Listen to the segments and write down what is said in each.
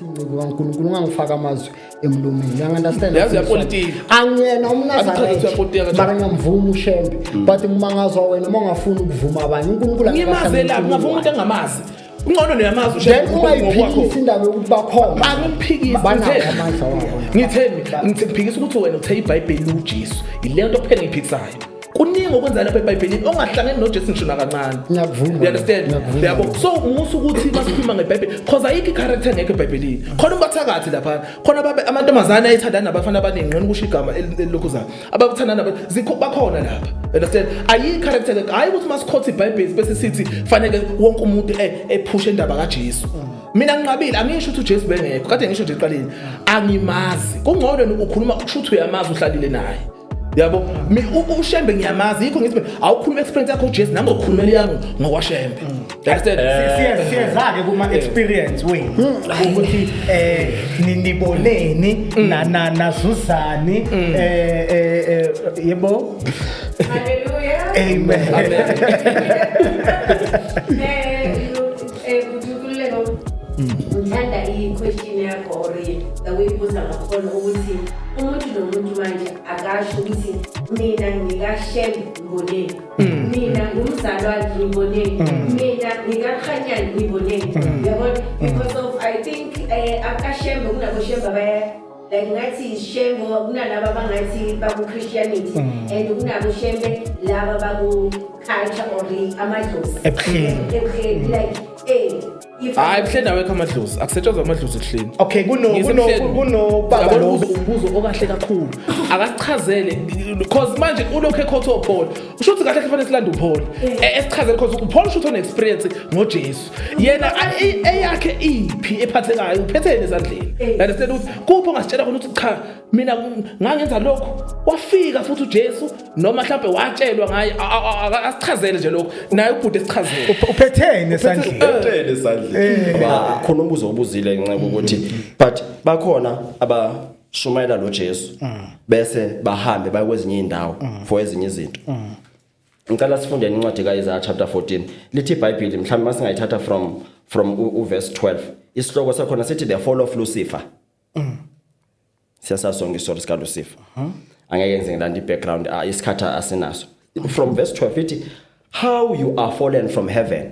ingcebo kaNkulunkulu ungangifaka amazwi emlomeni uyangandastand yazi yapolitiki angiyena umnazaremara ngiyamvuma ushembe mm. but ngimangazwa wena uma ungafuni ukuvuma abanye unkulunkulu ngimazelaphi ngavuma umuntu angamazi ungcono niyamazi then ungayiphikisi indaba yokuthi bakhona angiphikisi ngitheni ngiphikisa ukuthi wena uthe ibhayibheli liwujesu yile nto kuphela ngiyiphikisayo kuningi okwenza lapha ebhayibhelini ongahlangene nojesu ngisho nakancane you understand yabo so musa ukuthi masikhuluma ngebhayibheli cause ayikho i-character engekho ebhayibhelini khona ubathakathi laphana khona amantombazane ayithandana nabafana abaningi nqona ukusho igama elilokhuzayo abakuthandana bakhona lapha understand ayikho i-character hhayi ukuthi masikhotha ibhayibheli bese sithi faneke wonke umuntu e, ephushe indaba kajesu mm. mina nginqabile angisho ukuthi uJesu bengekho kade ngisho nje eqaleni angimazi kungcono ukhuluma kusho ukuthi uyamazi uhlalile naye yabo mi ushembe ngiyamazi yikho ngithi awukhuluma experience yakho Jesu nami ngokhuluma yami ngokwashembe mm. understand eh. siyezake kuma eh. experience we mm. ukuthi eh niniboneni mm. na na nazuzani eh, eh eh yebo haleluya amen amen Eh, kutukuleko ngithanda i-question yakho or the way ibuza ngakhona ukuthi umuntu nomuntu manje akasho ukuthi mina ngikashem ngiboneni mm. mina ngumzalwane ngiboneni mm. mina ngikakhanyani ngiboneni mm. yabona because of i think um eh, akashembe kunaboshembe abaya like ngathi shem ngoba kunalaba abangathi baku-christianity mm. and kunabo shembe laba baku-culture or amadlozi ebuhleni ebuhleni mm. like ey hayi buhleni awekho amadlozi akusetshenzwa amadlozi ebuhleni okay kunobaba lo umbuzo okahle kakhulu akasichazele because manje ulokhu ekhotha ophole usho ukuthi kahle kufanele silande uphole esichazele because uphole usho ukuthi one-experience ngojesu yena eyakhe iphi ephathekayo uphetheni ezandleni understand ukuthi kuphi ongasitshela khona ukuthi cha mina ngangenza lokhu wafika futhi uJesu noma mhlawumbe watshelwa ngaye asichazele nje lokho naye ubhuti esichazele uphetheni esandleni uphetheni esandleni eh. khona umbuzo obuzile ngenxa ukuthi but bakhona aba shumayela noJesu mm. bese bahambe baye kwezinye indawo mm. for ezinye izinto mm. ngicela sifundeni incwadi kaIsaya chapter 14 lithi iBhayibheli mhlawumbe masingayithatha from from uverse 12 isihloko sakhona sithi the fall of Lucifer mm. siyasasonga istory sika Lucifer huh? angeke yenze ngilanda ibackground ah isikhatha asinaso from verse 12 ithi how you are fallen from heaven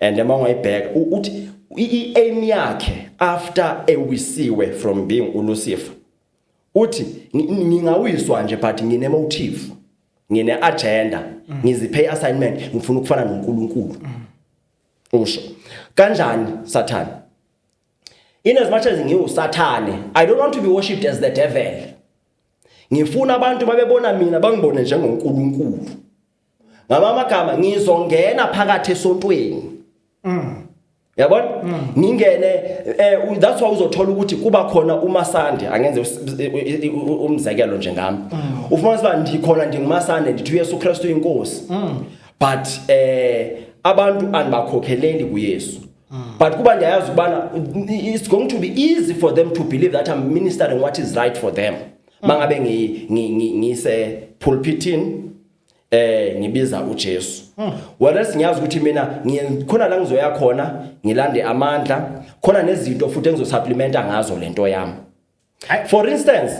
and uma ungayibheka uthi i-aim yakhe after ewisiwe from being uLucifer uthi ngingawiswa nje but ngine motive ngine agenda mm. ngiziphe assignment ngifuna ukufana noNkulunkulu mm. usho kanjani sathane in as much as ngiwusathane i don't want to be worshipped as the devil ngifuna abantu babebona mina bangibone njengoNkulunkulu ngamama gama ngizongena phakathi esontweni mm yabona mm. ngingene eh that's why uzothola ukuthi kuba khona umasande angenze umzekelo nje ngami mm. ufuna siba ndikhona ndingumasande ndithi uYesu Kristu inkosi mm. but eh abantu anibakhokeleli kuYesu but kuba ndiyayazi ubana it's going to be easy for them to believe that I'm ministering what is right for them mangabe ngi ngi ngise pulpitini eh ngibiza uJesu hmm. whereas ngiyazi ukuthi mina ngikhona la ngizoya khona ngilande amandla khona nezinto futhi engizosupplementa ngazo lento yami for instance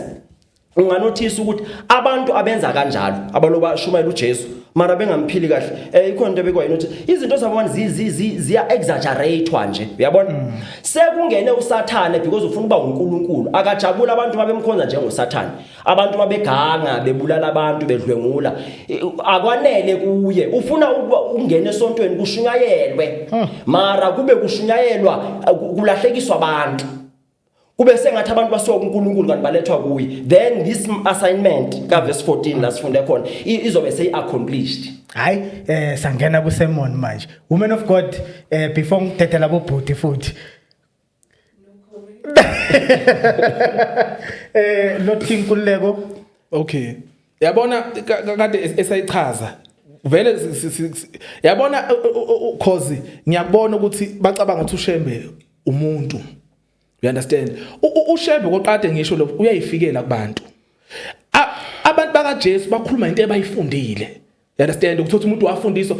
unganothisa ukuthi abantu abenza kanjalo abaloba shumayela uJesu mara bengamphili kahle eh ikhona into ebekwa yini ukuthi izinto zabona ziya exaggeratewa nje uyabona mm. sekungene usathane because ufuna uba uNkulunkulu akajabula abantu babemkhonza njengosathane abantu babeganga bebulala abantu bedlwengula akwanele kuye ufuna ukuba ungene esontweni kushunyayelwe hmm. mara kube kushunyayelwa kulahlekiswa abantu kube sengathi abantu basuka kuNkulunkulu kanti balethwa kuye then this assignment ka verse 14 la sifunde khona izobe seyi accomplished hayi eh sangena ku sermon manje woman of god eh before ngithethe labo bhuti futhi eh lothi inkululeko okay yabona kade esayichaza vele yabona cause ngiyakubona ukuthi bacabanga ukuthi ushembe umuntu you understand ushebe koqade ngisho lo uyayifikela kubantu abantu bakaJesu bakhuluma into ebayifundile you understand ukuthola umuntu wafundisa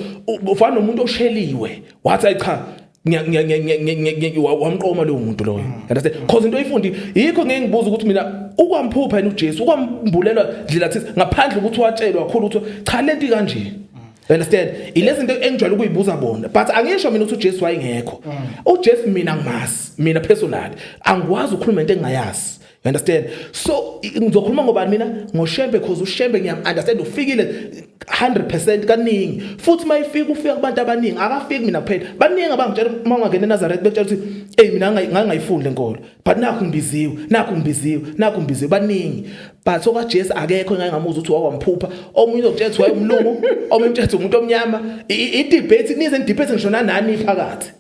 ufana nomuntu osheliwe wathi cha wamqoma lowo muntu loyo mm. understand because into oyifundi yikho ngeke ngibuza ukuthi mina ukwamphupha yena uJesu ukwambulela ndlela thisa ngaphandle ukuthi watshelwa khulu ukuthi cha lento kanje You understand? Ilezi zinto engijwayele ukuyibuza bona. But angisho mina ukuthi uJesu wayengekho. Mm. UJesu mina ngimazi, mina personally. Angikwazi ukukhuluma into engingayazi. You understand? So ngizokhuluma ngobani mina? NgoShembe because uShembe ngiyam understand ufikile 100% kaningi. Futhi mayifika ufika kubantu abaningi, akafiki mina kuphela. Baningi abangitshela uma ungangena eNazareth bekutshela ukuthi hey mina ngangayifundi lenkolo. but nakho ngibiziwe nakho ngibiziwe nakho ngibiziwe baningi but okaJesu akekho engake ngamuzwa ukuthi wakwamphupha omunye uzokutshela ukuthi wayemlungu omunye utshela ukuthi umuntu omnyama i debate nize debate ngishona nani phakathi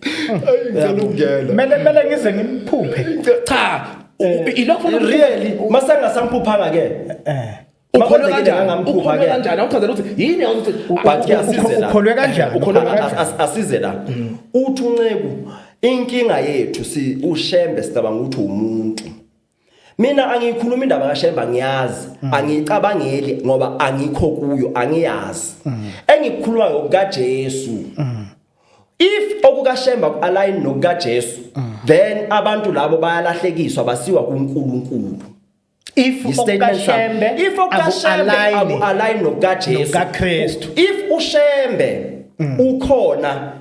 ngicela ukungena mele mele ngize ngimphuphe cha eh, ilokho really masangasamphuphanga ke eh ukholwe kanjani ukholwe kanjani awuchazela ukuthi yini awuthi but asize la ukholwe kanjani ukholwe kanjani asize la mm. uthi unceku inkinga yethu si ushembe sicabanga ukuthi umuntu mina angiyikhuluma indaba kaShemba ngiyazi mm. angicabangeli ngoba angikho kuyo angiyazi mm. engikukhuluma ngokukaJesu mm. if okukaShemba kualign nokukaJesu then abantu labo bayalahlekiswa basiwa kuNkulunkulu if okashembe if okashembe align nokaJesu nokaKristu if ushembe mm. ukhona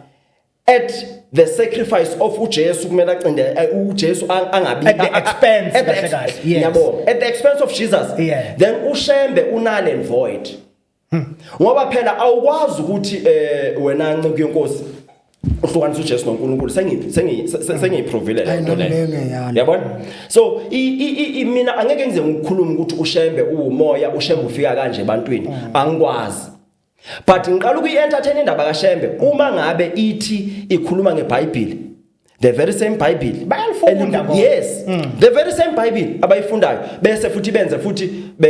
at the sacrifice of uJesu kumele acinde eh, uJesu angabi at the expense kahle kahle yabo at the expense of Jesus yeah. then ushembe unale void Hmm. Ngoba phela awukwazi ukuthi eh wena nceku yenkosi uhlukanisa uJesu noNkulunkulu sengi sengi sengiyiprovile le nto le yabona so i i mina angeke ngize ngikhulume ukuthi ushembe uwumoya ushembe ufika kanje ebantwini hmm. angikwazi but ngiqala ukuyi entertain indaba kaShembe uma ngabe ithi ikhuluma ngeBhayibheli the very same bible bayalifunda ngoba yes mm. the very same bible abayifundayo bese futhi benze futhi be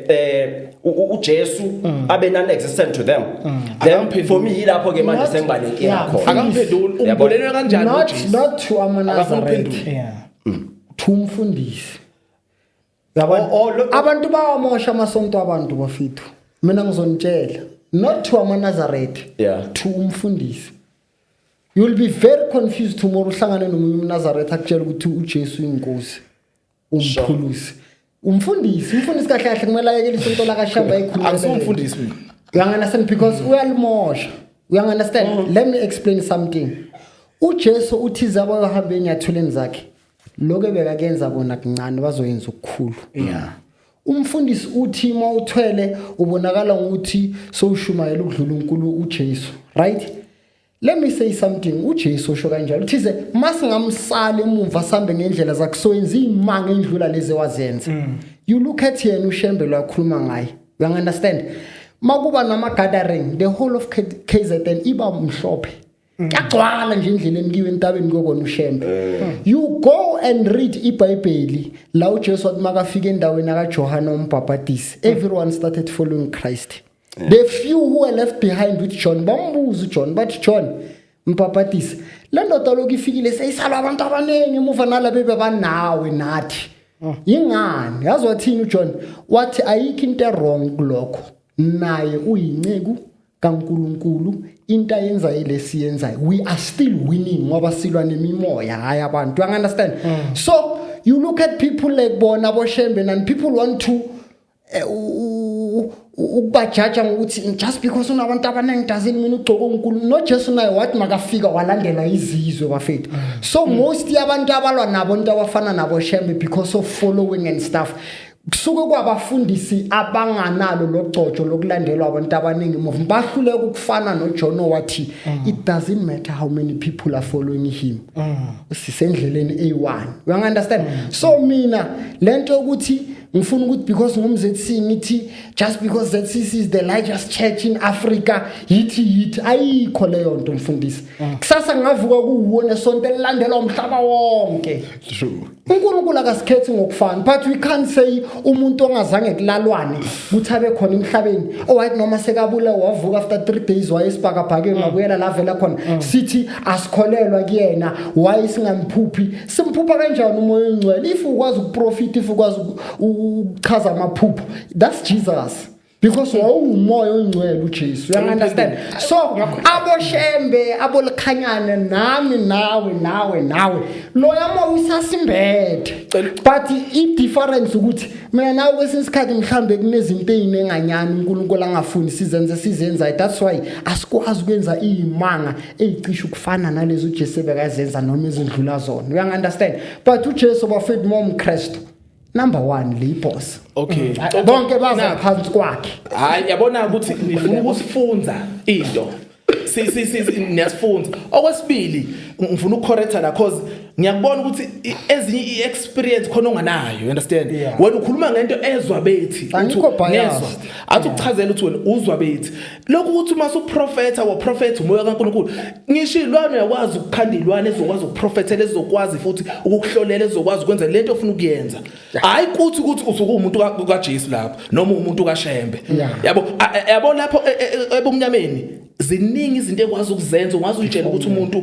eh uJesu mm. abe non existent to them mm. then for me ilapho ke manje sengibalekile khona akamphenduli umbulelwe kanjani not not to amanazareth yeah mm. to umfundisi abantu bawamosha amasonto abantu bafethu mina ngizonitshela not to amanazaretha yeah. to umfundisi you'll be very confused tomorrow uhlangane nomunye umnazaretha akutshela ukuthi ujesu inkosi umphulusi umfundisi umfundisi kahle kahle kumele ayekele isonto lakashamba ekhuluakusumfundisi mina uyanganasand because uyalimosha uyanganasand mm. let me explain something ujesu uthize abayohamba enyathuleni zakhe lokho ebekakenza kona kuncane bazoyenza ukukhulu yeah umfundisi uthi uma uthwele ubonakala ngokuthi sowushumayela ukudlula uNkulunkulu uJesu right let me say something uJesu usho kanjalo uthize masingamsali emumva sambe ngendlela zakhe soyenza imanga endlula lezi wazenza mm. you look at yena ushembe lwakhuluma ngaye you understand makuba nama gathering the whole of KZN iba mhlophe kuyagcwala nje endleleni kiwe entabeni kokona ushembe eh. you go and read ibhayibheli la ujesu wathi makafika endaweni akajohane umbhabhadisi everyone started following christ yeah. the few who were left behind with john bambuza ujohn bathi john mbhabhadisi le ndoda lokhu ifikile seyisalwa abantu abaningi emuva nala bebe banawe nathi oh. yingani yazi wathini ujohn wathi ayikho into erong kulokho naye uyinceku kaNkulunkulu into ayenza ilesi yenzayo we are still winning ngoba silwa nemimoya hayi abantu you understand mm. so you look at people like bona boshembe and people want to eh, ukubajaja ngokuthi just because unabantu abaningi dazini mina ugcoke unkulu nojesu naye wathi makafika walandela izizwe bafethu so mm. most yabantu abalwa nabo into abafana nabo shembe because of following and stuff kusuke kwabafundisi abanganalo logcotsho lokulandelwa abantu abaningi move bahluleka ukufana noJohn wathi mm. it doesn't matter how many people are following him mm. sisendleleni A1 you understand mm. so mina lento yokuthi ngifuna ukuthi because ngumZC ngithi just because ZCC is the largest church in Africa yithi yithi ayikho leyo nto mfundisi kusasa ngavuka kuwona sonto elilandelwa umhlaba wonke true uNkulunkulu akasikhethi ngokufana but we can't say umuntu ongazange kulalwane ukuthi abe khona emhlabeni owathi oh, noma sekabula wavuka after 3 days wayesibhakabhakeni mm. ngabuyela la vela khona mm. sithi asikholelwa kuyena why singamphuphi simphupha kanjani umoya ongcwele if ukwazi ukuprofit if ukwazi ukuchaza amaphupho that's Jesus because wawuwumoya ongcwele uJesu uyangandastand so aboshembe abolikhanyana nami nawe nawe nawe loya moya usasimbethe but i-difference ukuthi mina nawe kwesinye isikhathi mhlawumbe kunezinto ey'nenganyani unkulunkulu angafuni sizenze sizenzayo that's why asikwazi ukwenza iy'manga ey'cishe ukufana nalezo ujesu ebekazenza noma ezindlula zona uyangandastand but ujesu bafethu mawumkristu number 1 le boss okay mm. bonke baza phansi kwakhe hayi yabona ukuthi ngifuna ukusifunza into si si si niyasifunza okwesibili ngifuna ukucorrecta la cause ngiyakubona ukuthi ezinye iexperience khona onganayo you understand wena ukhuluma ngento ezwa bethi ngezwa athi ukuchazela ukuthi wena uzwa bethi lokhu ukuthi uma uprofetha waprofetha umoya kaNkulunkulu ngisho ilwane yakwazi ukukhanda ilwane ezokwazi ukuprofethela ezokwazi futhi ukukuhlolela ezokwazi ukwenza lento ofuna ukuyenza hayi kuthi ukuthi usuke umuntu kaJesu lapho noma umuntu kaShembe yabo yabo lapho e, e, e, ebumnyameni ziningi izinto ekwazi ukuzenza ungazi uyitshela ukuthi umuntu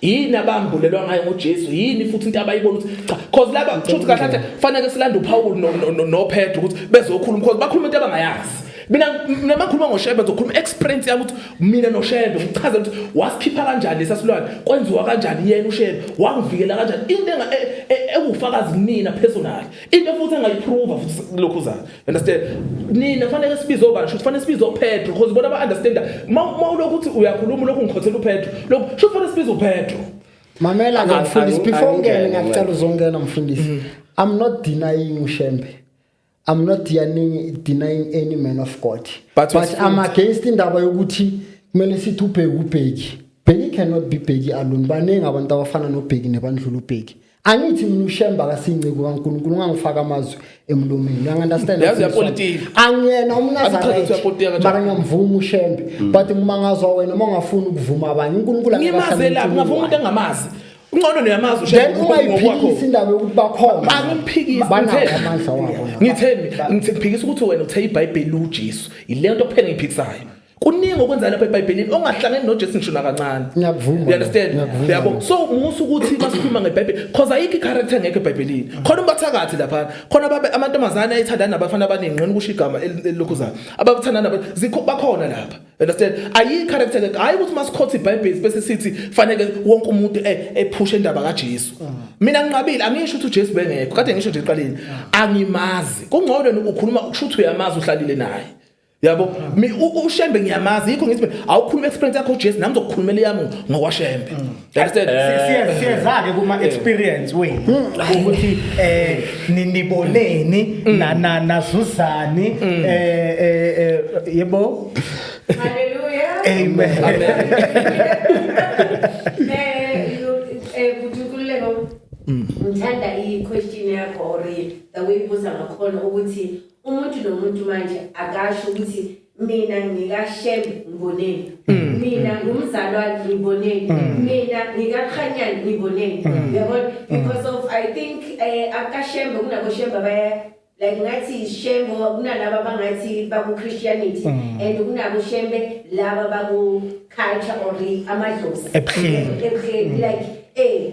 yini abambulelwa ngayo ngoJesu yini futhi into abayibona ukuthi cha cause laba kushuthi kahle kahle fanele silande uPaul noPetru ukuthi bezokhuluma because bakhuluma into abangayazi mina mina makhuluma ngoshebe ngizokhuluma experience yami ukuthi mina noshebe ngichaze ukuthi wasikhipha kanjani lesasilwane kwenziwa kanjani yena ushebe wangivikela kanjani into e, e, ewufakazi mina personally into futhi engayiprova futhi lokhu zayo understand nina kufanele sibize obani shuthi kufanele sibize upetro because bona ba-understanda uma ulokhu ukuthi uyakhuluma ulokhu ngikhothela upetro lokhu shuthi kufanele sibize upetro mamela ke mfundisi before ungene ngiyacela uzongena mfundisi mm. i'm not denying ushembe i'm not denying, denying any man of god but, but i'm against indaba yokuthi kumele sithi ubheki ubheki bheki cannot be bheki alone baningi abantu abafana nobheki nebandlula ubheki angithi mina ushemba kasinceku kaNkulunkulu ungangifaka amazwi emlomeni you understand yazi yapolitiki angiyena umnazareth mara ngiyamvuma ushembe mm. but ngimangazwa wena uma ungafuni ukuvuma abanye uNkulunkulu ngimazela ngingavuma umuntu engamazi Ungcono niyamazi ushaya ngokuphikisa indaba yokuthi bakhona. Angiphikisi ngitheni? Ngitheni? Ngiphikisa ukuthi wena uthe iBhayibheli uJesu. Yilento kuphela engiphikisayo. kuningi okwenza lapha eBhayibhelini ongahlangene noJesu ngisho nakancane ngiyakuvuma you understand yabo so musa ukuthi masikhuluma ngeBhayibheli because ayikho icharacter ngeke eBhayibhelini khona ubathakathi lapha khona babe amantombazana ayithandana nabafana abaningi ngqina ukusho igama elilokhuzayo abathandana zikho bakhona lapha understand ayikho character ngeke hayi ukuthi masikhotha iBhayibheli bese sithi fanele wonke umuntu e, ephushe indaba kaJesu mm. mina nginqabile angisho ukuthi uJesu bengekho kade ngisho nje eqaleni mm. angimazi kungcono ukhuluma ukusho ukuthi uyamazi uhlalile naye yabo ushembe ngiyamazi yikho ngithi awukhuluma experience yakho uJesu nami ngizokukhulumela yami ngokwashembe mm. understand eh. siyeza ke kuma eh. experience wenu mm. ukuthi eh niniboneni mm. na na nazuzani eh, eh eh yebo haleluya amen eh eh kudukuleka ngithanda i question yakho or the way ubuza ngakhona ukuthi umuntu nomuntu manje akasho ukuthi mina ngikashem ngiboneni mm. mina mm. ngumzalwane ngiboneni mm. mina ngikakhanyani ngiboneni yabona because of i think eh, akashembe kunaboshembe abaya like ngathi shembe kunalaba abangathi baku-christianity and kunaboshembe laba baku-culture or amadlozi ebuhleni like eh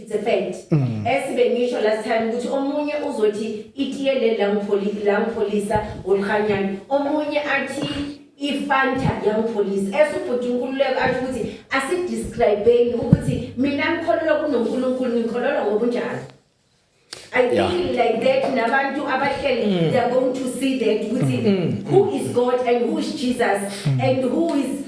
it's a fact mm. esibe ngisho last time ukuthi omunye uzothi itiye le la ngipholisa la ngipholisa olkhanyana omunye athi ifanta yangipholisa esubhuti unkululeko athi ukuthi asidescribeni ukuthi mina ngikholelwa kunonkulunkulu ngikholelwa ngobunjalo I yeah. feel like that nabantu abahleli mm. they are going to see that ukuthi mm. mm. who is God and who is Jesus mm. and who is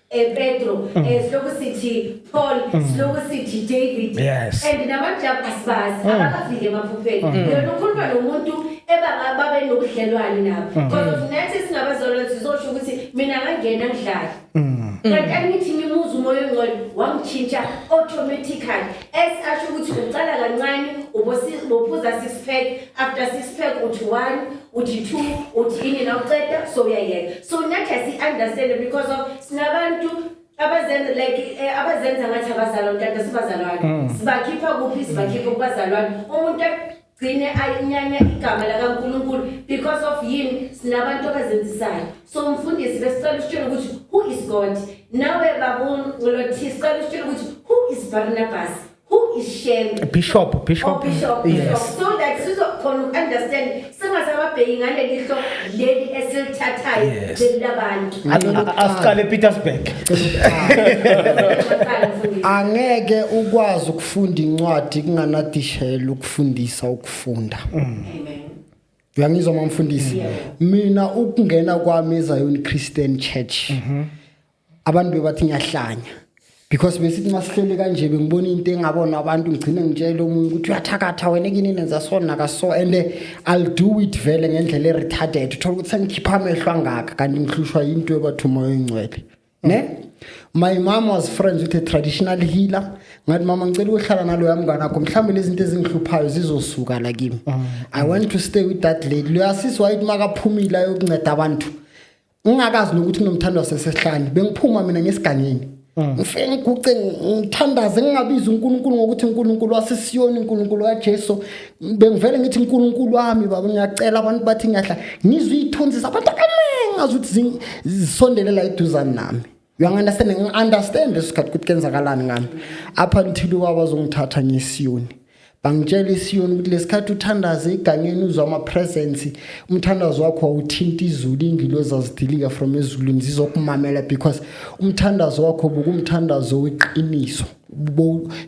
eh, Pedro mm. eh, siloku sithi Paul mm. siloku sithi David yes. and namajabu asibazi mm. abakafike emaphupheni mm. yona ukhuluma nomuntu ebanga babe nobudlelwane nabo mm. because mm. of nathi singabazalwane sizosho ukuthi mina ngangena ngidlala mm. kanti angithi ngimuza umoya ongcwele wangitshintsha automatically as asho ukuthi uqala kancane ubophuza six pack after six pack uthi one uthi two uthi ini la uceda so uyayeka so nathi asi-understande because of sinabantu abazenza like eh, abazenza ngathi abazalwa mntata sibazalwane mm. sibakhipha kuphi sibakhipha kubazalwane umuntu gcine ayinyanya igama lakaNkuluNkulu because of yini sinabantu abazenzisayo so mfundisi besicela usitshele ukuthi who is God nawe babuni ngolothi sicela usitshele ukuthi who is Barnabas Who is Shembe? Bishop, Bishop. Oh, Bishop. Yes. So that sizokhona ukunderstand singasababheki ngaleli hlo leli esilithathayo Yes. leli labantu. asiqale epetersburg angeke ukwazi ukufunda incwadi kunganadishela ukufundisa ukufunda Amen. uyangizwa mamfundisi mina ukungena kwami ezayoni christian church abantu bebathi ngiyahlanya because besithi masihleli kanje bengibona into engabona abantu ngigcine ngitshela omunye ukuthi uyathakatha wena kini nenza so naka so and eh, I'll do it vele ngendlela e retarded uthola ukuthi sengikhipha amehlo angaka kanti ngihlushwa into ebathuma oyingcwele ne my mom was friends with a traditional healer ngathi mama ngicela ukuhlala naloya mngane akho mhlawumbe lezi zinto ezingihluphayo zizosuka la kimi mm. i want to stay with that lady loya sisi wayithi makaphumile ayokunceda abantu ngingakazi nokuthi unomthando wasesehlane bengiphuma mina ngesigangeni mm. ngifike ngiguce ngithandaze ngingabizi uNkulunkulu ngokuthi uNkulunkulu wasesiyoni uNkulunkulu kaJesu bengivele ngithi uNkulunkulu wami baba ngiyacela abantu bathi ngiyahla ngizwe ithunzi zabantu abaningi ngazi ukuthi zisondele la eduzane nami uyangi-understand ngi-understand isikhathi ukuthi kenzakalani ngami up until ukwakwazi ungithatha ngesiyoni bangitshela isiyoni ukuthi lesikhathi uthandaze igangeni uzwa ama-presence umthandazo wakho wawuthinta izulu ingilo zazidilika from ezulwini zizokumamela because umthandazo wakho bukumthandazo weqiniso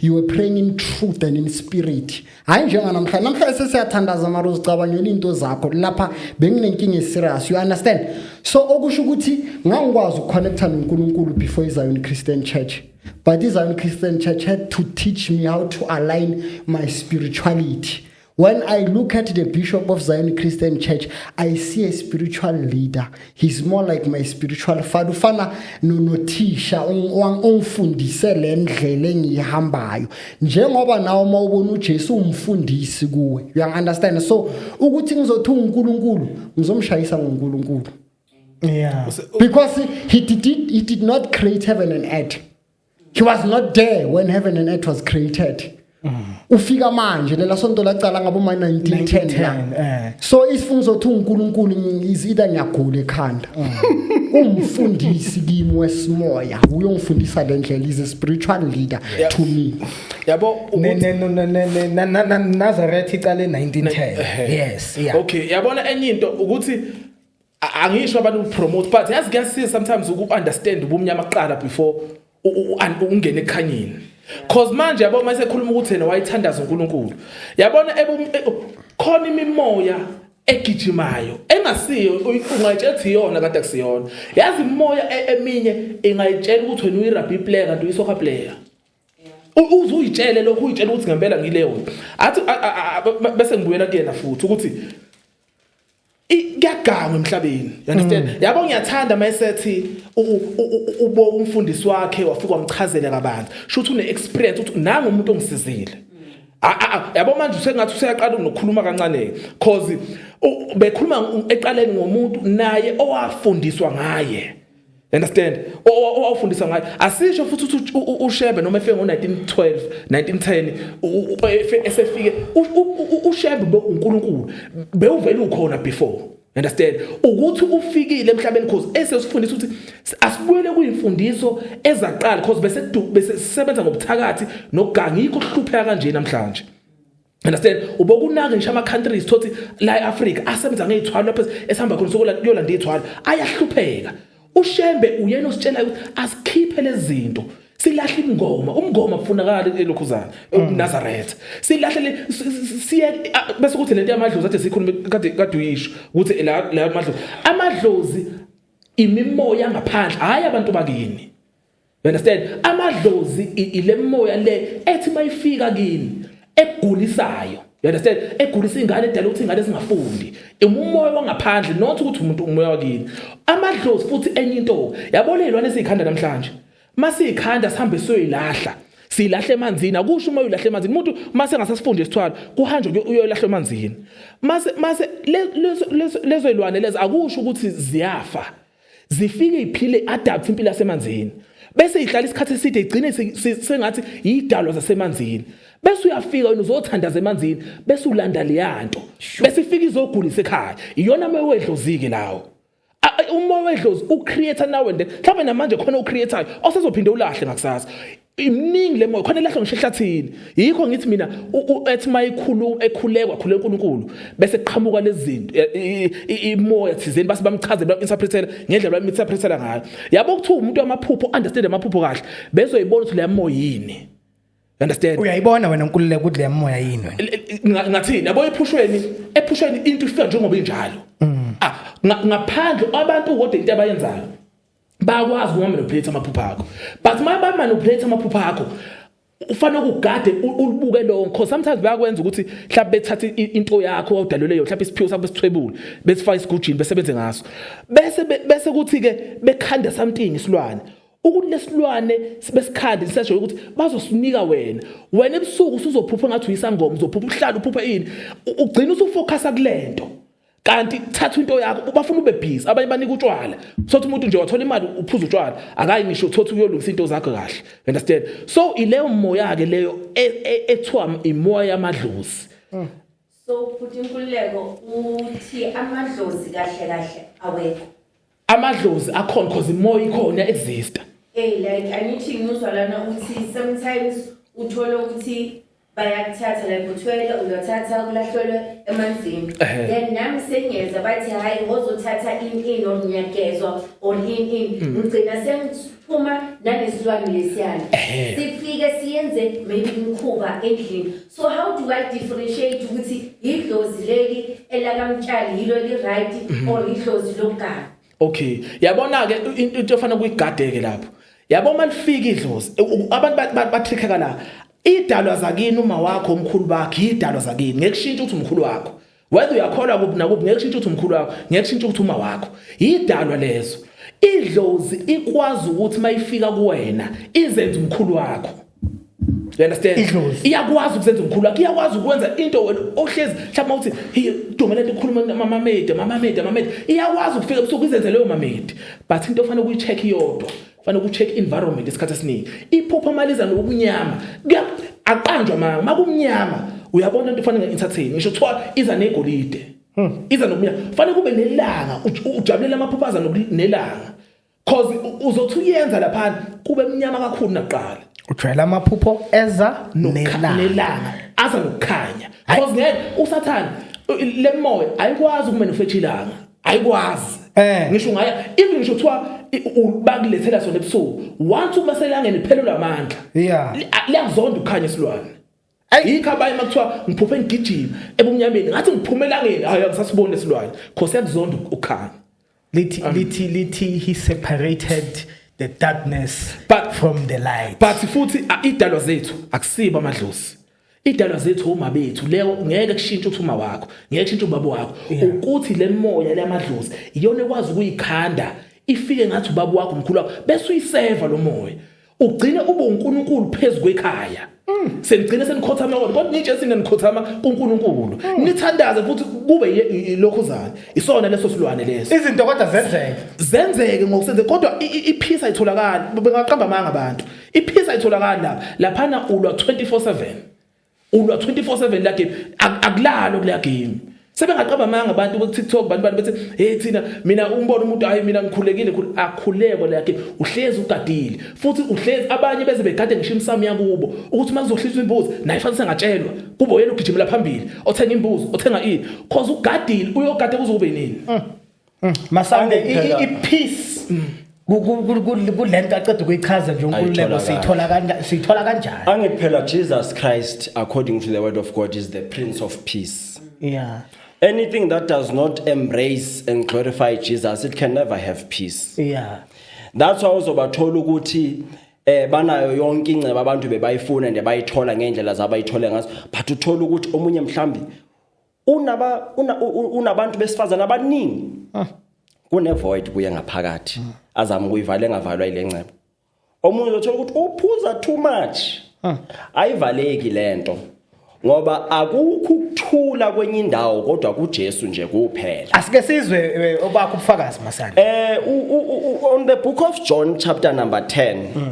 you were praying in truth and in spirit hayi njenganamhlanje namhlanje sesiyathandaza mara uzicabangela into zakho lapha benginenkinga eserious you understand so okusho ukuthi ngangikwazi ukuconnecta nonkulunkulu before izion christian church but izion christian church had to teach me how to align my spirituality when i look at the bishop of zion christian church i see a spiritual leader he's more like my spiritual father ufana nonothisha ongifundise le ndlela engiyihambayo njengoba nawe uma ubona uJesu umfundisi kuwe you understand so ukuthi ngizothi uNkulunkulu ngizomshayisa ngoNkulunkulu yeah because he did he did not create heaven and earth he was not there when heaven and earth was created ufika manje lela sonto lacala ngabo ma 1910 la eh. so isifungo sothi uNkulunkulu ngizida ngiyagula ekhanda umfundisi kimi wesimoya uyongifundisa le ndlela is a spiritual leader to me yabo Nazareth icale 1910 eh. yes yeah okay yabona enye into ukuthi angisho abantu ukupromote but yazi kuyasiza sometimes uku-understand ubumnyama kuqala before ungene ekhanyeni cause manje yabo uma esekhuluma ukuthi yena wayithandaza uNkulunkulu yabona e, khona imimoya egijimayo engasiyo ungayitshela ukuthi iyona kade akusiyona yazi imoya e, eminye ingayitshela ukuthi wena uyi-rugby player kanti uyi-soccer player uze uyitshele lokhu uyitshela ukuthi ngempela ngileyo athi bese ngibuyela kuyena futhi ukuthi kuyagangwa emhlabeni you understand mm. yabo ngiyathanda mayesethi ubo umfundisi wakhe wafika wamchazela kabanzi shuthi une experience uthi nanga umuntu ongisizile ah, ah, ah, yabo manje usengathi useyaqala nokukhuluma kancane cause bekhuluma eqaleni ngomuntu naye owafundiswa ngaye understand owawufundisa ngayo asisho futhi ukuthi ushebe noma efike ngo-1912 1910 esefike ushebe bewunkulunkulu bewuvele ukhona before understand ukuthi ufikile emhlabeni cause esesifundisa ukuthi asibuyele kuyimfundiso ezaqala cause bese bese sisebenza ngobuthakathi nokuganga yikho kuhlupheka kanje namhlanje understand ubokunake ngisho ama-countries thothi la e-afrika asebenza ngey'thwalo lapho esihamba khona sokuyolanda iy'thwalo ayahlupheka ushembe uyena ositshelayo ukuthi asikhiphe lezi zinto silahle imngoma umngoma kufunakala elokhuzana unazaretha silahle siye bese kuthi lento yamadlozi athi sikhulume kade kade uyisho ukuthi la la amadlozi amadlozi imimoya ngaphandle hayi abantu bakini You understand? Amadlozi ile moya le ethi mayifika kini egulisayo. You understand? Egulisa ingane edala ukuthi ingane singafundi. Umoya wangaphandle not ukuthi umuntu umoya wakini. Amadlozi futhi enye into. Yabona izilwane sikhanda namhlanje. Masikhanda sihambe soyilahla. silahle emanzini akusho uma uylahle emanzini umuntu mase ngasasifunde isithwalo kuhanjwe uyoylahle emanzini mase mase lezo lezo lezilwane lezi akusho ukuthi ziyafa zifike iphile adapt impilo yasemanzini bese ihlala isikhathi eside igcine sengathi yidalwa zasemanzini bese uyafika wena uzothandaza emanzini bese ulanda leyanto bese ifika izogulisa ekhaya iyona moya wedlozike lawo umoya wedlozi ucreator now and then mhlawumbe namanje khona ucreatayo osezophinde ulahle ngakusasa imningi le moya khona lahlwa ngisho ehlathini yikho ngithi mina ethi mayikhulu ekhulekwa khule uNkulunkulu bese qhamuka lezinto imoya thizeni base bamchazela interpretela ngendlela bami interpretela ngayo yabo kuthi umuntu amaphupho understand amaphupho kahle bezoyibona ukuthi le moya yini understand uyayibona wena uNkululeko ukuthi le moya yini wena ngathini yabo ephushweni ephushweni into ifika njengoba injalo mm. ah ngaphandle abantu kodwa into abayenzayo bayakwazi ukumanipulate amaphupha akho but uma bamanipulate amaphupha akho ufanele ukugade ulibuke lo nkho sometimes bayakwenza ukuthi mhlawumbe bethatha into yakho wawudalelwe yona mhlawumbe isiphiwo sakho besithwebule besifaka isigujini besebenze ngaso bese bese kuthi ke bekhanda something isilwane ukuthi lesilwane besikhandi sisesho ukuthi bazosinika wena wena ebusuku usuzophupha ngathi uyisangoma uzophupha uhlala uphupha ini ugcina usufocusa kulento kanti thatha into yakho bafuna ube busy abanye banika utshwala sothi umuntu nje wathola imali uphuza utshwala akayi ngisho thothi uyolungisa into zakho kahle understand so ileyo moya ke leyo e, e, ethiwa imoya yamadlozi mm. so futhi inkululeko uthi amadlozi kahle kahle awekho amadlozi akhona cause imoya ikhona exista hey like angithi ngizwa lana ukuthi sometimes uthole ukuthi bayakuthatha like uthwele uyothatha kulahlelwe emanzini then nami sengiyeza bathi hhayi ngozothatha in in or ngiyagezwa or in in mm. ngigcina sengiphuma nanesilwane lesiyana sifike siyenze maybe umkhuba endlini So how do I differentiate ukuthi idlozi leli elakamtshali yilo eli right mhm. or idlozi lomgaba? Okay. Yabona ke into efana kuyigadeke lapho. Yabo malifika idlozi abantu bathrikheka la. Idalwa zakini uma wakho omkhulu bakhe idalwa zakini ngekushintsha ukuthi umkhulu wakho. whether uyakholwa kuphi nakuphi ngeke kushintshe ukuthi umkhulu wakho ngeke kushintshe ukuthi uma wakho yidalwa lezo idlozi ikwazi ukuthi mayifika kuwena izenze umkhulu wakho you understand idlozi iyakwazi ukuzenza umkhulu wakho iyakwazi ukwenza into wena ohlezi mhlawumbe uthi hey dumela into khuluma mama mede mama mede mama mede iyakwazi ukufika ebusuku izenze leyo mama mede but into ofanele uyicheck iyodwa fanele ku-check environment isikhathi esiningi iphupho maliza nokunyama aqanjwa manga makumnyama uyabona into fanele nge-entertain ngisho kuthiwa iza negolide hmm. iza nokunyama fanele kube nelanga ujabulela amaphupho aza nelanga cause uzothi uyenza laphana kube mnyama kakhulu nakuqala ujwayela amaphupho eza nelanga aza nokukhanya cause ngeke usathane le moya ayikwazi ukumenufetha ilanga ayikwazi eh. ngisho ngaye even ngisho kuthiwa bakulethela sona ebusuku once uma selangene phelelwa amandla yeah liyazonda ukukhanya isilwane ayikho abanye makuthiwa ngiphuphe ngigijima ebumnyameni ngathi ngiphume elangeni hayi angisasiboni isilwane cause yakuzonda ukukhanya lithi um, lithi lithi he separated the darkness but from the light but futhi idalwa zethu akusiba amadlozi idalwa zethu uma bethu leyo ngeke kushintshe ukuthi uma wakho ngeke kushintshe ubaba wakho ukuthi le moya leyamadlozi iyona ekwazi ukuyikhanda ifike ngathi ubaba wakho umkhulu wakho bese uyiseva lo moya ugcine ube uNkulunkulu phezulu kwekhaya mm. senigcine senikhothama kodwa kodwa nitshe singenikhothama kuNkulunkulu mm. nithandaze futhi kube lokho zani isona leso silwane leso izinto kodwa zenzeke zenzeke ngokusenze kodwa iphisa itholakala bengaqamba amanga abantu Iphisi ayitholakali lapha. Laphana ulwa 24/7. Ulwa 24/7 la game. Akulalo kule game. Sebengaqaba amanga abantu ku TikTok bantu bantu bethi hey thina mina umbona umuntu hayi mina ngikhulekile akhuleko la game. Uhlezi ugadile. Futhi uhlezi abanye beze begade ngisho imsamo yakubo ukuthi makuzohlisa imbuzi naye fanele sengatshelwa. Kube uyena ugijimela phambili. Othenga imbuzi, othenga ini. Cause ugadile uyogade kuzokube nini? Mm. Mm, Masango Angithi phela- i- i- peace mm, ku- ku- ku- ku- kulento aceda ukuyichaza nje uNkululeko Ayithola siyithola kanjani siyithola kanjani angithi phela jesus christ according to the word of god is the prince of peace yeah anything that does not embrace and glorify jesus it can never have peace yeah that's why uzobathola ukuthi eh banayo yonke ingceba abantu bebayifuna nje bayithola ngendlela zabayithole ngazo but uthola ukuthi omunye mhlambi unaba una, unabantu besifazana abaningi ah. kune void kuye ngaphakathi mm. azama ukuyivala engavalwa ile ncebo omunye uzothola ukuthi uphuza too much ah. ayivaleki lento ngoba akukho ukuthula kwenye indawo kodwa kuJesu nje kuphela asike sizwe eh, obakho ubufakazi masana eh on the book of John chapter number 10 mm.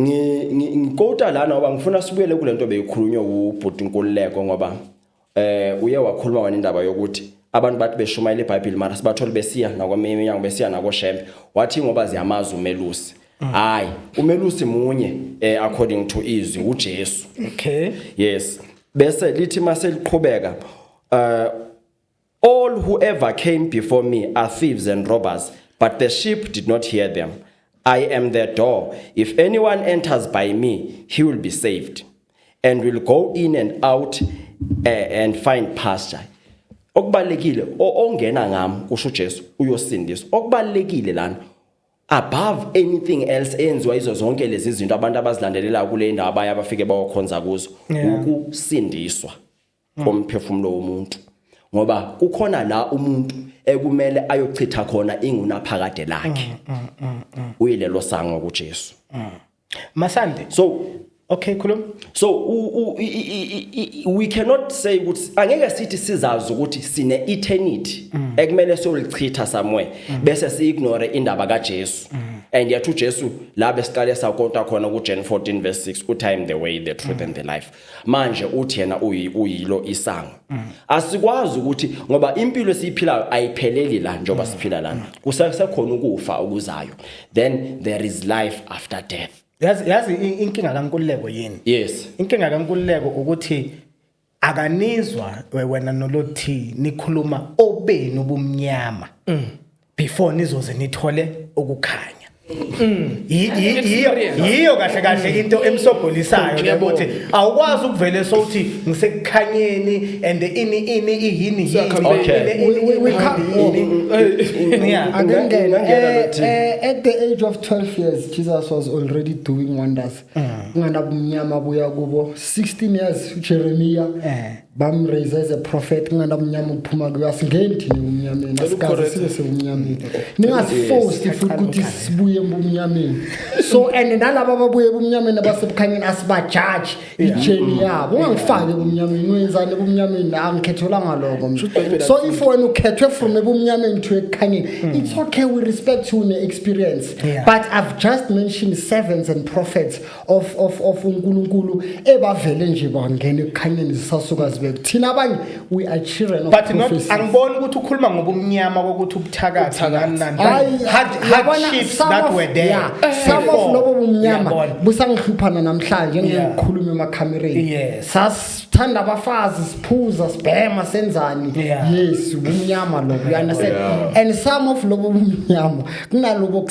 ngikota lana ngoba ngifuna sibuyele kule nto beyikhulunywa ubhuti Nkululeko ngoba eh uye wakhuluma wena indaba yokuthi abantu bathi beshumayela iBhayibheli mara sibathole besiya nakweminye inyanga besiya nakoshembe wathi ngoba ziyamazi umelusi hayi umelusi munye eh according to izwi uJesu okay yes bese lithi mase liqhubeka uh All whoever came before me are thieves and robbers, but the sheep did not hear them. I am the door. If anyone enters by me, he will be saved and will go in and out uh, and find pasture. Okubalekile ongena ngam kusho Jesu uyosindiswa. Okubalekile lana above anything else enziwa izo zonke lezi zinto abantu abazilandelela kule ndawo abaya bafike bayokhonza kuzo ukusindiswa. Yeah. mm. komphefumulo womuntu ngoba kukhona la umuntu ekumele ayochitha khona ingunaphakade lakhe mm, mm, uyilelo sango kuJesu masande so Okay khuluma. So u, u, i, i, i, we cannot say ukuthi angeke sithi sizazi ukuthi sine eternity mm. ekumele solichitha somewhere mm. bese si ignore indaba kaJesu. Mm. And yethu Jesu la besiqale sakonta khona ku Gen 14 verse 6 u time the way the truth mm. and the life. manje uthi yena uyilo isango asikwazi ukuthi ngoba impilo esiyiphilayo ayipheleli la njengoba siphila lana kusekhona ukufa okuzayo then there is life after death yazi yazi inkinga kankululeko yini yes inkinga kankululeko ukuthi akanizwa wena nolothi nikhuluma obenu ubumnyama mm. before nizoze nithole ukukhanya Mm. yiyo kahle kahle mm. into emsogolisayo ukuthi awukwazi ukuvele sowuthi ngisekukhanyeni and ini ini iyini at the age of 12 years jesus was already doing wonders mm. unganabumnyama buya kubo 16 years ujeremiya eh. bamraise as a prophet kungani abumnyama ukuphuma kuyo asingeni thina ebumnyameni asikaze sibe sebumnyameni ningasifosti futhi ukuthi sibuye ebumnyameni so and nalaba ababuye ebumnyameni abasebukhanyeni asibajaji ijeni yabo ungangifaki ebumnyameni wenzani ebumnyameni angikhethelwanga loko so if wena ukhethwe from ebumnyameni to ekukhanyeni hmm. it's okay we respect you ne-experience but i've just mentioned servants and prophets of of of uNkulunkulu ebavele nje bangena ekukhanyeni zisasuka zibeke thina abanye we are children of but not angiboni ukuthi ukhuluma ngobumnyama kokuthi ubuthakathi nani nani hardships that were there yeah, eh, some of lobo bumnyama busangihluphana namhlanje ngikhuluma emakhamereni yes sasithanda abafazi siphuza sibhema senzani yes ubumnyama lobo you understand and some of lobo bumnyama kunalobo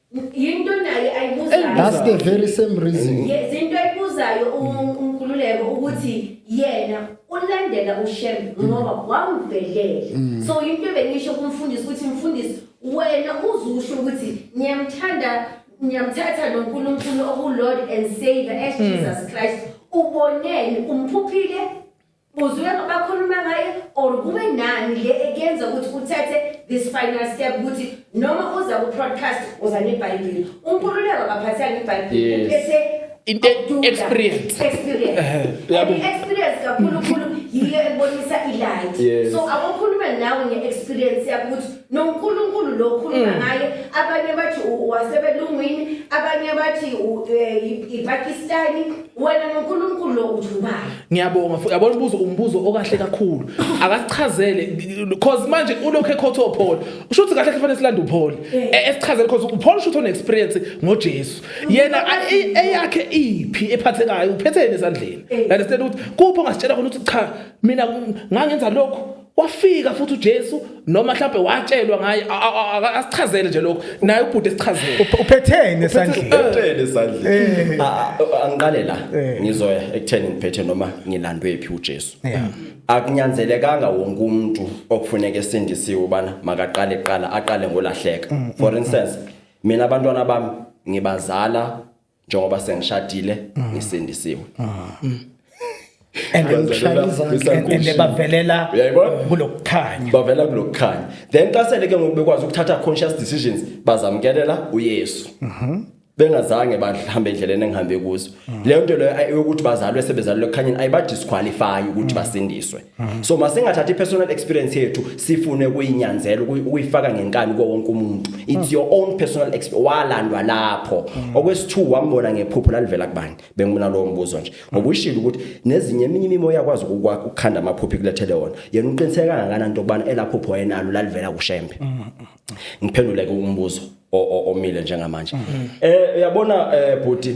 yinto nayo ayibuzayo that's the very same reason zinto ayibuzayo unkululeko ukuthi yena ulandela ushembe mm. ngoba wamvelele mm. so into ebengisho kumfundisi ukuthi mfundisi wena uzusho ukuthi ngiyamthanda ngiyamthatha noNkulunkulu okulord and savior as mm. Jesus Christ uboneni umphuphile Uzwe abakhuluma ngaye or kube nani le ekuyenza ukuthi uthathe this final step ukuthi noma uza ku podcast uza nebhayibheli uNkululeko akaphatheka ngebhayibheli Yes. uphethe Into e- ukududa. experience. experience Eh, yabo. And experience kakhulu khulu yiyo ebonisa ilight Yes. so abakhuluma nawe nge-experience yakho ukuthi nonkulunkulu lo Mm. ukhuluma ngaye abanye bathi u- wasebelungwini abanye bathi u- eh, i- ipakistani wena noNkulunkulu lo ujubayo ngiyabonga futhi yabona umbuzo umbuzo okahle kakhulu akasichazele because manje ulokhu ekhotha uPaul usho ukuthi kahle kufanele silande uPaul eh. E, esichazele because uPaul usho ukuthi experience ngoJesu yena eyakhe iphi ephathekayo uphethene esandleni eh. understand ukuthi kupho ngasitshela khona ukuthi cha mina ngangenza lokho wafika futhi uJesu noma mhlawumbe watshelwa ngaye asichazele nje lokho naye ubhuti esichazele uphetheni esandleni uphetheni esandleni eh. ah, ah, oh, angiqale la eh. ngizoya ekutheni ngiphethe noma ngilandwe phi uJesu eh. akunyanzelekanga wonke umuntu okufuneka esindisiwe ubana makaqale qala aqale ngolahleka mm, mm, for mm. instance mina abantwana bami ngibazala njengoba sengishadile mm. ngisindisiwe mm. and bavelela kulokukhanya bavela kulokukhanya then xa sele ke ngoku bekwazi ukuthatha conscious decisions bazamkelela uYesu mhm. bengazange bahambe endleleni engihambe kuzo mm. leyo nto leyo eyokuthi bazalwe sebezalwe ekukhanyeni ayibadisqualify ukuthi basindiswe Mhm. so masingathathi personal experience yethu sifune ukuyinyanzela ukuyifaka ngenkani kuwo wonke umuntu it's mhm. your own personal experience walandwa lapho mhm. okwesithu wambona ngephupho lalivela kubani bengibona lowo mbuzo nje ngokushilo ukuthi nezinye eminye imimo yakwazi ukwakha ukukhanda amaphupho kulethele wona yena uqiniseka kangakanani into kubana elaphupho yenalo lalivela kushembe ngiphendule ke umbuzo omile njengamanje eh uyabona eh bhuti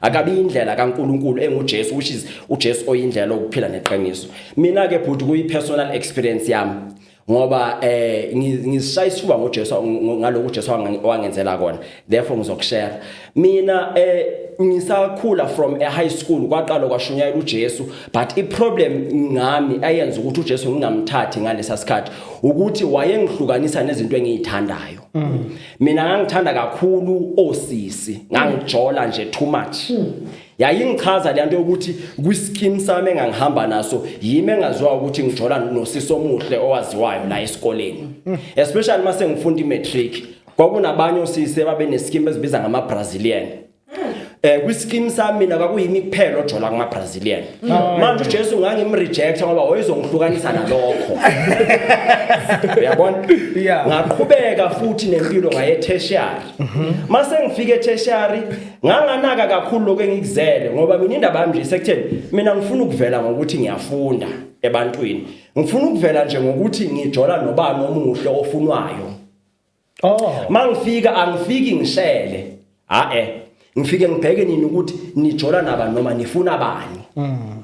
akabi indlela kaNkuluNkulu enguJesu which is uJesu oyindlela okuphila neqiniso mina ke bhuti kuyi personal experience yami ngoba eh ngizishaya isifuba ngoJesu ngalokho uJesu wangenzela kona therefore ngizokushare mina eh ngisakhula from a high school kwaqala kwashunyayela uJesu but i problem ngami ayenza ukuthi uJesu ngingamthathi ngalesa sikhathi ukuthi wayengihlukanisa nezinto engizithandayo mm. mina ngangithanda kakhulu osisi ngangijola nje too much hmm. yayingichaza lento yokuthi kwiskim sami engangihamba naso yimi engaziwa ukuthi ngijola nosisi omuhle owaziwayo la esikoleni hmm. especially mase ngifunda imatric kwakunabanye osisi babeneskim ezibiza ngama Brazilian eh kwiskim sami mina kwakuyimi kuphela ojola kuma Brazilian mm. manje uJesu ngangimrejecta ngoba wayezongihlukanisa nalokho uyabona ngaqhubeka futhi nempilo ngaye tertiary mhm. mase ngifike tertiary nganganaka kakhulu lokho engikuzele ngoba mina indaba yami nje sekutheni mina ngifuna ukuvela ngokuthi ngiyafunda ebantwini ngifuna ukuvela nje ngokuthi ngijola nobani omuhle ofunwayo oh mangifika angifiki ngishele ha eh ngifike ngibheke nini ukuthi nijola naba noma nifuna bani mm.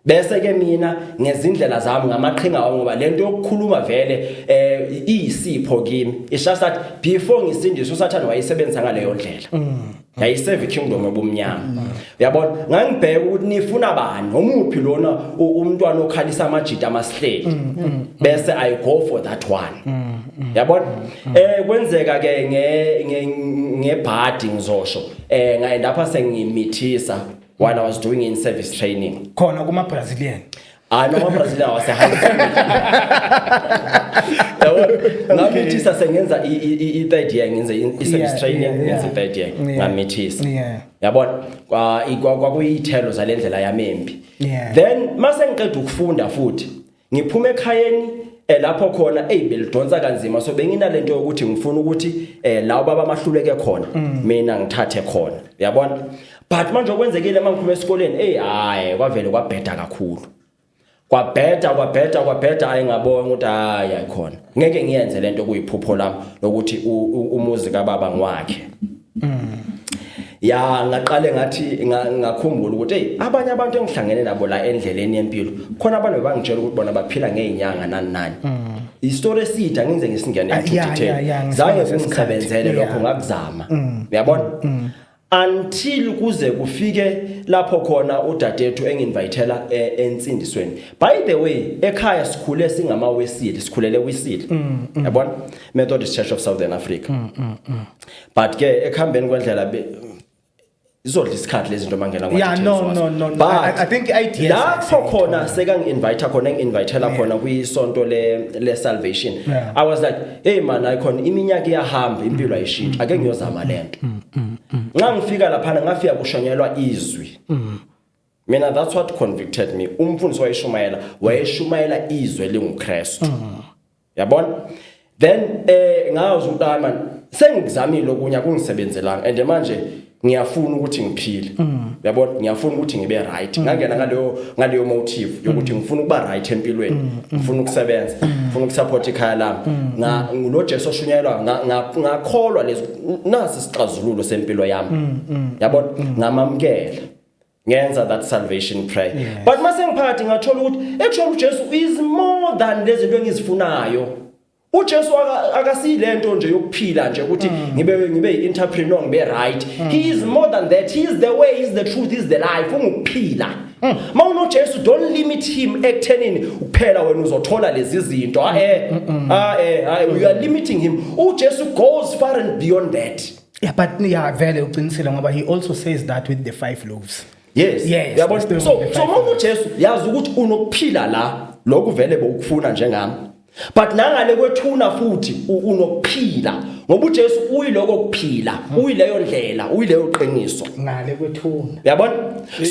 bese ke mina ngezindlela zami ngamaqhinga wami ngoba lento yokukhuluma vele eh iyisipho kimi ishasathi before ngisindiswa sathana wayisebenzisa ngaleyo ndlela mm. yayiseve ikingdom obumnyama mm. uyabona ngangibheka ukuthi nifuna bani omuphi lona umntwana okhalisa amajita amasihleli mm, mm, bese i go for that one yabona eh kwenzeka ke nge ngebhadi ngizosho eh ngaye lapha sengimithisa while i was doing in service training khona kuma brazilian hayi noma Brazil awasehamba yabo ngamithisa sengenza i-third year ngenze i-service training ngenze i-third year ngamithisa yabona kwakuyithelo zale ndlela yami embi then mase ngiqeda ukufunda futhi ngiphume ekhayeni eh lapho khona hey belidonsa kanzima so benginalento yokuthi ngifuna ukuthi eh lawo baba mahluleke khona mm. mina ngithathe khona uyabona but manje okwenzekile uma ngiphuma esikoleni hey hayi kwavele kwabheda kakhulu kwabheda kwabheda kwabheda hayi ngabona ukuthi hayi ayikhona ngeke ngiyenze lento kuyiphupho lami lokuthi umuzi kababa ngwakhe mm. ya ngaqale ngathi ngakhumbula ukuthi hey abanye abantu engihlangene nabo la endleleni yempilo khona abantu bebangitshela ukuthi bona baphila ngeenyanga nani nani mm. istory eside angenze ngisingene into detail zange sengisebenzele lokho ngakuzama mm. uyabona until kuze kufike lapho khona udadethu enginvitela e, ensindisweni by the way ekhaya sikhule singama wesile sikhulele wisile mm, mm. yabona Methodist Church of Southern Africa mm, but ke ekhambeni kwendlela izodla isikhathi lezi zinto mangena kwa yeah no no no but I, I think IDS lapho khona seka ngi invite khona ngi invitela khona kwi sonto le le salvation yeah. i was like hey man icon iminyaka iyahamba impilo ayishintsha ake ngiyozama lento mm, mm, mm. nxa ngifika laphana ngafika kushanyelwa izwi mina that's what convicted me umfundisi wayeshumayela wayeshumayela izwe linguKristu yabona then eh ngazi ukuthi hayi man sengizamile okunya kungisebenzelanga and manje ngiyafuna ukuthi ngiphile mm. yabo ngiyafuna ukuthi ngibe right mm. ngangena ngaleyo ngaleyo motive yokuthi mm. ngifuna ukuba right empilweni ngifuna ukusebenza ngifuna ukusupport ikhaya lami nga ngulo Jesu oshunyayelwa ngakholwa lezi nasi sixazululo sempilo yami yabo ngamamkela ngenza that salvation prayer yes. but mase ngiphakathi ngathola ukuthi actually uJesu is more than lezi zinto engizifunayo uJesu akasiyilento nje yokuphila nje ukuthi mm. ngibe ngibe entrepreneur ngibe right mm. he is more than that he is the way he is the truth he is the life ungukuphila mm. mawuno Jesu don't limit him ekuthenini kuphela wena uzothola lezi zinto ah eh ah eh you are limiting him uJesu goes far and beyond that yeah but yeah vele uqinisile ngoba he also says that with the five loaves yes yes yabona so so mawuno Jesu yazi ukuthi unokuphila la lokuvele bokufuna njengami but nangale kwethuna futhi unokuphila ngoba uJesu uyiloko kuphila hmm. uyileyo ndlela uyileyo qiniso ngale kwethuna yabona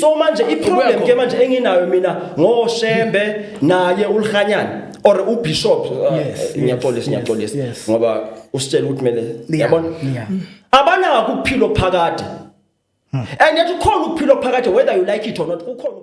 so manje iproblem ke manje enginayo mina ngoshembe naye ulihanyana or ubishop uh, ngiyaxolisa ngiyaxolisa ngoba usitshela ukuthi kumele yabona abanaka ukuphila phakade hmm. and yet ukhona ukuphila phakade whether you like it or not ukhona